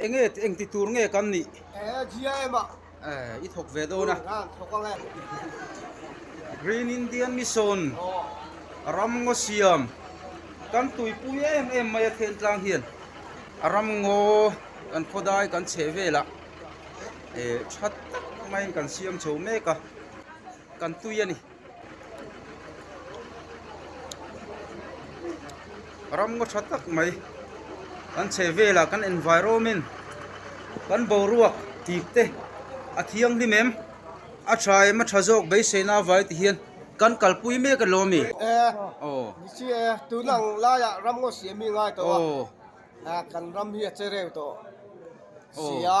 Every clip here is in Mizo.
Enge engti tur nge kan nih? GIM ah i thawk ve dawn a. Green Indian Mission a ram ngaw siam kan tuipui em em mai a thentlang hian a ram ngaw kan khawdai kan chheh velah e that tak maiin kan siam chho mek a kan tui a ni. ram ngaw tha tak mai kan chhe vela kan environment kan boruak tih te a thianghlim em a tha em a tha zawk beiseina avai tih hian kan kalpui mek alawm a mi aw ni chi e tuna ang laia ram ngaw siam mi ngai tawh a aw kan ram hi a che reu tawh sia.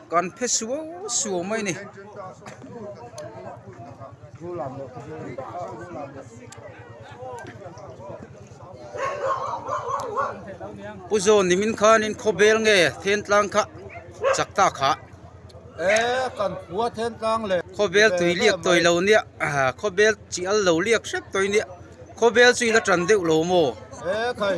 Kan phe suau suau mai ni. Pu Zawn ni min khan in khaw bel nge then tlang kha chak ta kha. E kan khua then tlang le. Khaw bel tui liak toi lo nia khaw bel chi al lo liak hrep toi nia khaw bel chu ila tan deuh lo maw. E khai.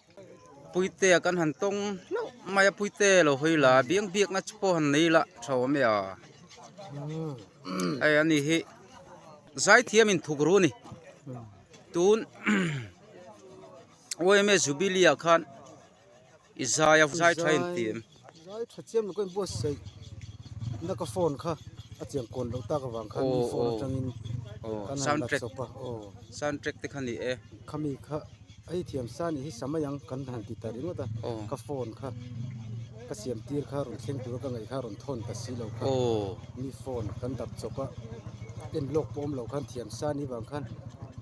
Puite a kan han tawng hlauh mai a, Puite lo hawi la a, biak biakna chu pawh han nei la tha awm e a, hei a nih hi zaithiam in thuk ru a ni, tun OMA Jubilee ah khan i zai a, zai tha em ti em. Rilai tha chiam lo ka inbuatsaih na ka phone kha a chiang kawn loh tak avang khan min phone atangin kan han la chawp a aw sound track te kha ni e khami kha hei thiamsa nih hi samai ang kan han ti ta ringawt a ka phone kha ka siam tir kha rawn thleng tura ka ngaih kha rawn thawn ta si lo kha mi phone kan dap chawp a en lawk pawh awm lo khan thiamsa ni vang khan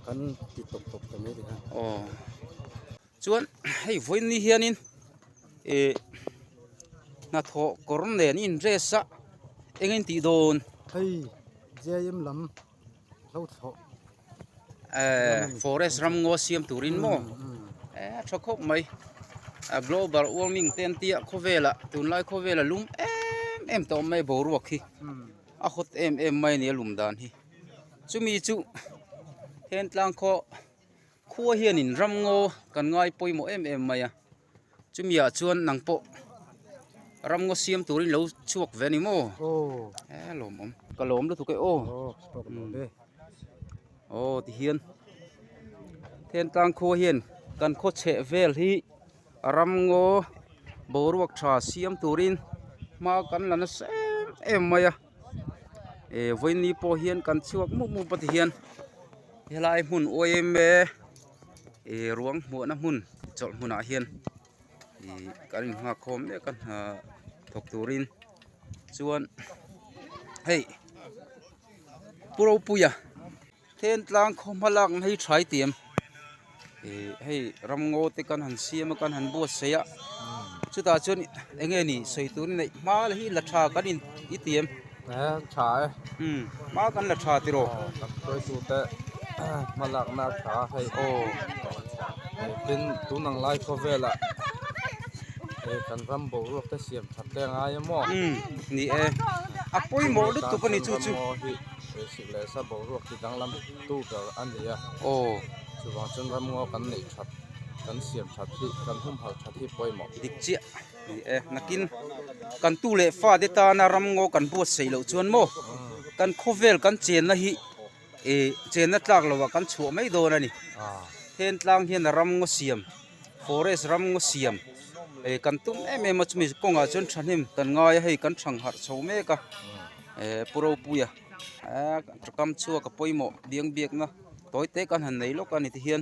kan ti tawp tawp ta mai ri kha aw. Chuan hei vawiinni hianin eh hnathawh kawr nen in dress a eng a intih dawn. Hei JIM lam hlo thlawh eh forest ram ngaw siam turin maw eh a tha khawp mai a global warming te an tia khawvela tunlai khawvela lum em em ta awm mai boruak hi a hawt em em mai a ni a lum dan hi chumi chu hentlang khaw. Khua hianin ram ngaw kan ngai pawimawh em em mai a, chumi ah chuan nang pawh ram ngaw siam tur in lo chhuak ve a ni maw? Eeh lawm awm. Ka lawm lutuk e aw. Aw tihian Thentlang khua hian kan khaw chheh vel hi ram ngaw boruak tha siam turin hma kan la nasem em mai a. e vawiini pawh hian kan chhuak mup mup a ti hian helai hmun awi em e e ruang hmuahna hmun chawlh hmunah hian ih kan in nghak khawm mek a hna thawk turin chuan hei pu ropuia-- Thentlang khaw hma lak na hi thai ti em? Ih hei ram ngaw te kan han siam a kan han buatsaih a, chutah chuan eng nge ni sawi tur a neih hma la hi la tha kan in i ti em? Aa tha e. Umm hma kan la tha tiraw? Aw kan sawihtute hma lak na a tha hei. Aw eh tin tun ang lai khaw velah eh kan ram boruak te siam that te a ngai em aw? Umm ni e. A pawimawh lutuk a ni chu chu. Lehsa boruak hi danglam tu ber a ni a, aw chuvang chuan ramngaw kan neih that, kan siam that hi, kan humhal that hi pawimawh. Dik chiah ni e, nakin kan tu leh fate tana ramngaw kan buatsaih loh chuan maw kan khawvel kan chenna hi eh chenna tlak lovah kan chhuah mai dawn a ni. Thentlang hian a ramngaw siam, forest ramngaw siam eh kan tum em em a chumi kawngah chuan thahnem kan ngai a hei kan thang harh chho mek a eh pu ropuia. Ka kam chhuak a pawimawh biang biakna tawi tak a han nei lawk a ni ti hian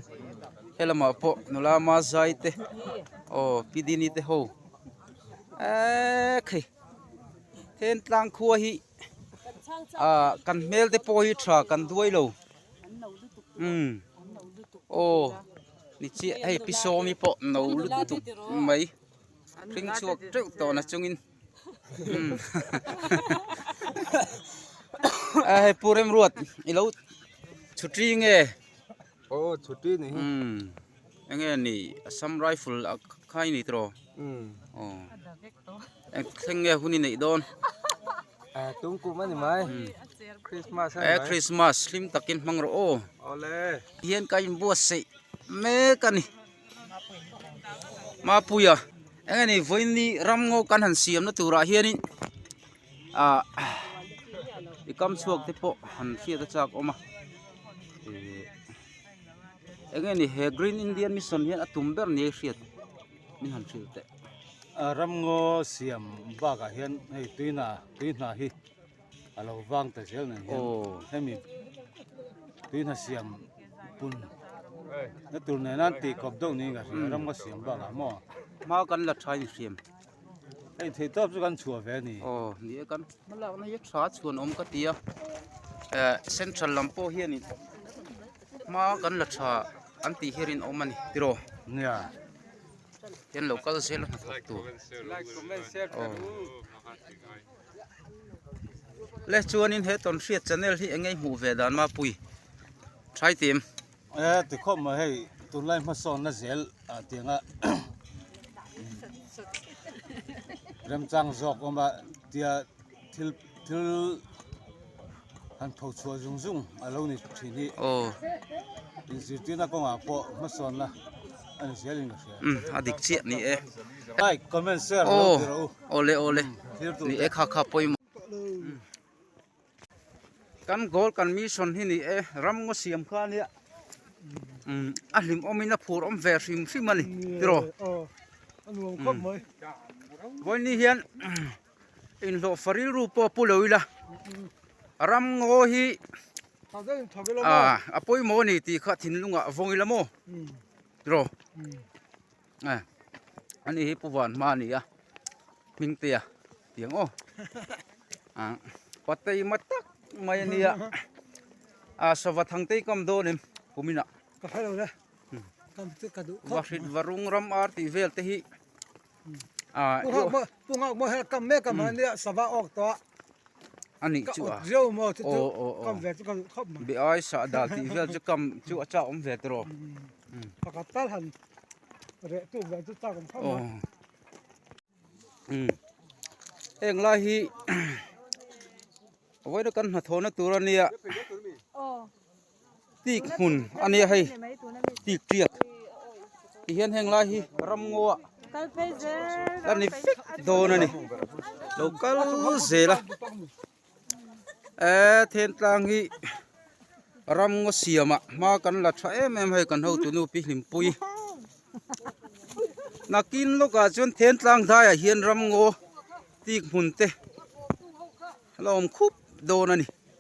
helamah pawh nula mahzai te aw kidini te ho eee khi hentlang khua hi ah kan hmel te pawh hi tha kan duai lo umm aw ni chiah hei pisawmi pawh no lutuk mai hring chhuak teuh tawhna chungin. Hei Pu Remruat i lo chhuṭi nge? Aw chhuṭi a ni hi. Enge a ni? Assam Rifle kha a ni tawh aw. Aw eng thleng nge hun i neih dawn? Tungkum a ni mai. Christmas a ni mai. Christmas hlim takin hmang rawh aw. Awle. Hian ka inbuatsaih mek a ni. Mapuia eng ani vawiinni ramngaw kan han siamna turah hianin ah i kam chhuak te pawh han hriat a chak awm a eng nge ni he green Indian mission hian a tum ber nia i hriat min han hrilh teh ramngaw siam bakah hian hei tuina tui hna hi. a lo vang ta zel nang hian hemi tuihnah siam pun na tur nen a tih kawp deuh niin ka hria ram ka siam bakah a maw hma kan la tha in hriam hei thei tawp chu kan chhuah ve a ni aw ni e kan hma lakna hi tha chhuan awm ka tia eh central lam pawh hian in hma kan la tha an tih hian rinawm a ni tiraw nia hian lo kal zel a hnathawk tur aw le chuanin he tawn hriat channel hi engei hmuh ve dan ma pui try tim e ti khawp mai hei tunlai hmasawn na zel ah tiang a remchang zawk awm a tia thil thil Han tho chhuah zung zung a lo ni thin hi aw inzirtirna kawngah pawh hmasawnna a ni zel inka hria umm a dik chiah ni e like comment share a lo tirah u awle awle ni e kha kha pawimawh kan goal kan mission hi ni e ramngaw siam khania umm a hlim awmin a phur awm ve hrim hrim a ni tiraw a nuam khawp mai vawiin ni hian. Inhlawhfa rilru pawh a pu lo ila ramngaw hi ah a pawimawh a ni tih kha thinlungah a vawng ila maw rawh ah ani hi pu vanhma a nia hmingtea tiang aw ah pateima tak mai a nia ah sava thangte i kam dawn em puminah ka hre love ka hre ka duh khawp va hrit va rungram ar tih vel te hi. Pu nghak maw hian kam mek a mah nia sava awk tawh a nih chu a zio maw chu chu kam ve chu ka duh khawp mai biai sa dal tih vel chu kam chu a chak awm ve ta rawh pakhat tal han reh tu vel chu chak awm khawp mai heng lai hi vawiin a kan hnathawhna tur a nia. Tik hmun a nia hei tiktiak tihian heng lai hi ramngawa la ni fek dawn a ni lo kal zel a eee thentlang hi ramngaw siamah hma kan la tha em em hei kan ho tunu pi hlimpuii nakin lawkah chuan thentlang hnaiah hian ramngaw tik hmun te a la awm khup dawn a ni.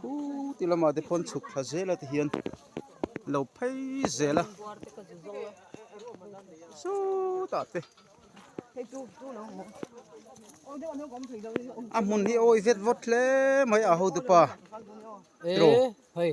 Khû ti lamah te phawn chhuk thla zela te hian lo phei zel a sawtah te a hmun hi awi vet vawt hle mai a hotupa tawh.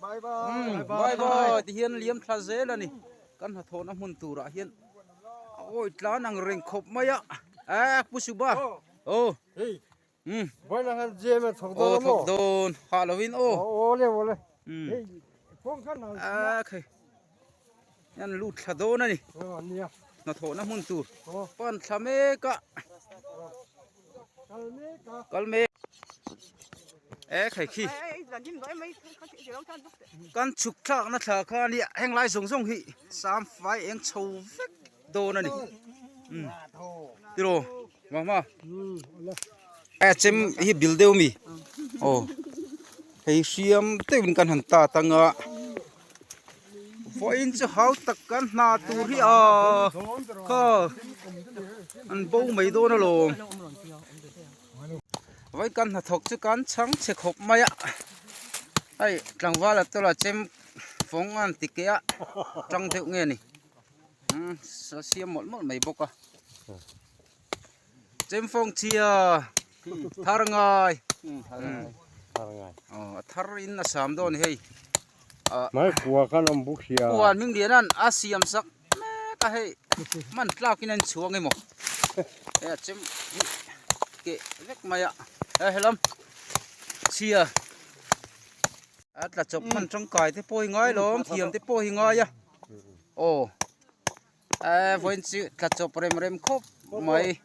Bye bye bye bye ti hian liam thla zel a ni kan hnathawh na hmun tur ah hian a awih tlan ang reng khawp mai a a pu suba aw umm buaina han zem a thawk dawn a maw aw thawk dawn hah lo in aw aw awle awle hei kawngkhar nau ah khe. Hian lut thla dawn a ni. Hnathawhna hmun tur pan thla mek a. Kal mek a. E khei khi. Kan chhuk thlakna thla khan heng lai zawng zawng hi sam fai eng chho vek. Dawn a ni. Um. Tiro. Mah mah. Ai chem hi bil deuh mi. Oh. Hei hriam teuhin kan han ta tanga. Vawiin chu hau tak kan hna tur hi a. Ka. An bo mai dawn a lawm. Vawiin kan hna thawk chu kan chhang chhe khawp mai a. Ai tlangvala tawla chem fawng an ti keh a. Tang deuh nge ni. a siam mawlh mawlh mai bawk a chemfawngchhia tharngai a thar in a sam dawn a ni hei mai khua khan a awm bawk hliaa khua an hming lian an a siam sak mek a hei man tlak in a inchhuang emaw hei a chem hi keh vek mai a hei a lam chhia a tla chawp hman tangkai te pawh hi ngailawm thiam te pawh hi ngai a aw a vawiin chu tla chawp rem rem khawp mai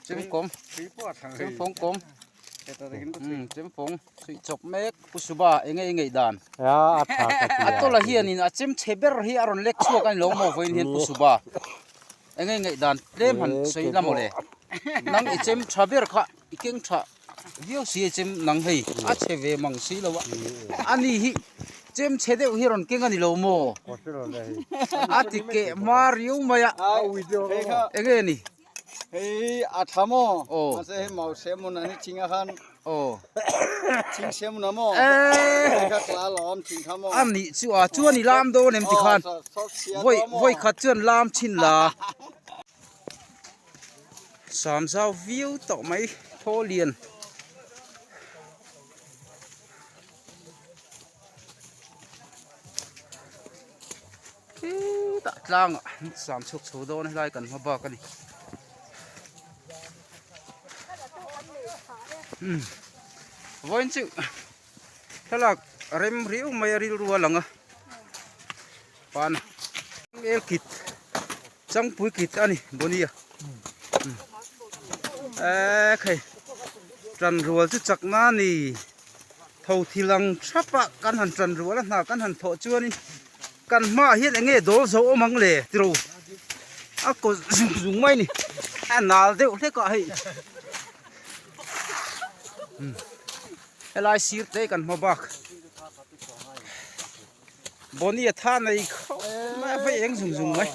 chungkawm chungkawm chungkawm suih chawp mek u suba eng nge i ngeih dan a tawlh ah hian a chem che ber hi a rawn lek chhuak a ni lo maw vawiin hian u suba eng nge i ngeih dan tlem han sawi la maw le nang i chem tha ber kha. I keng tha viau si e chem nang hei a chhe ve mang si lo a ani hi chem chhe deuh hi rawn keng a ni lo maw a ti keh hma riau mai a eng nge ni hei a tha maw mahse hei mau semun an i ching a khan aw ching semun a maw hei kha tla lo awm ching kha maw ani chu a chuan i lam dawn em ti khan voi voi khat chuan lam chin la sam zau viau tawh mai thaw lian khitah tlang ah an sam chhuk chho dawn a helai kan hma bak a ni umm vawiin chu thlalak rem riu mai a rilru a lang a pan leh kit. Changpui kit a ni Bonia eeh hei tan rual chu chak na ni tho thil ang thapa kan han tan rual a hna kan han thawh chuan in kan hma ah hian eng nge dawl zo awm ang le tiro a kaw zung zung mai a ni a nal deuh hlek a hei helai sir te kan hma bak. Bonnie a tha nei khawp mai a hmei eng zung zung mai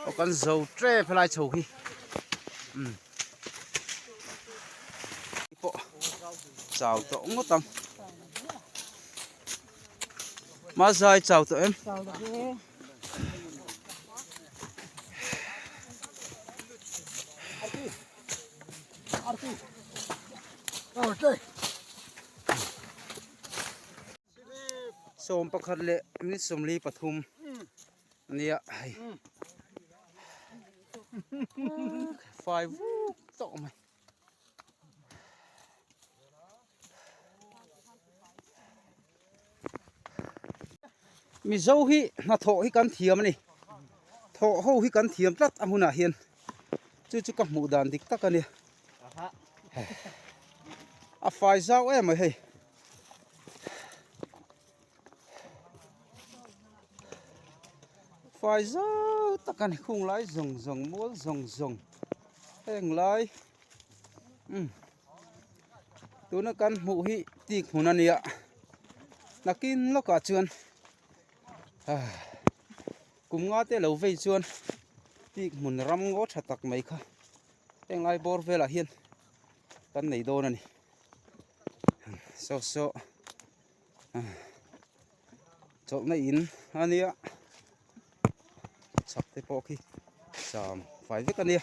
aw kan zo trep helai chho hi um pawh chau tawh ngawt ang ma zai chau tawh em chau tawh e Sawm pakhat leh minute sawmli pathum a nia hei fai vuk tawh mai. Mizo hi hnathawh hi kan thiam a ni, thawh ho hi kan thiam tlat a hunah hian chu chu ka hmuh dan dik tak a nia. A fai zau em mai hei. Fai zau tak a ni, khung lai zawng zawng, mual zawng zawng, heng lai. Um. tuna kan hmuh hi tik hmun a nia nakin lawkah chuan kum nga te lo vei chuan tik hmun ram ngaw tha tak mai kha heng ai bawr velah hian kan nei dawn a ni so so-- chawlhna in a nia chak te pawh khi cham fai vek a nia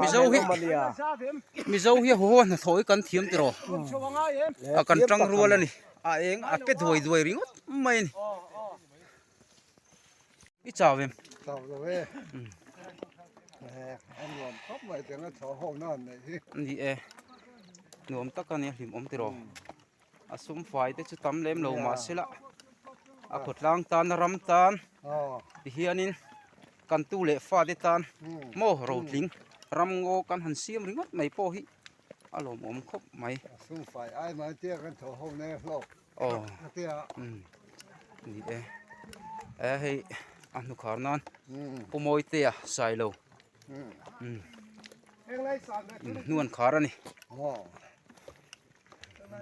Mizo hi Mizo hi a haw hnathawi kan thiam tih rawh a kan tang rual a ni a eng a pe duai duai ringawt mai a ni i chau em chau lo e an nuam khawp mai teng a thaw ho nan neih hi a ni e nuam tak a ni a hlim awm tih rawh. A sum fai te chu tam lem lo mah se lah a khawtlang tan a ram tan tihianin kan tu leh fa te tan maw rotling ram ngaw kan han siam ringawt mai pawh hi a lawmawm khawp mai. A sum fai ai mai a tia kan thaw ho ne hlawk a tia. Ni e e hei a hnukhar nan pu mawitea sai lo in hnuan khar a ni.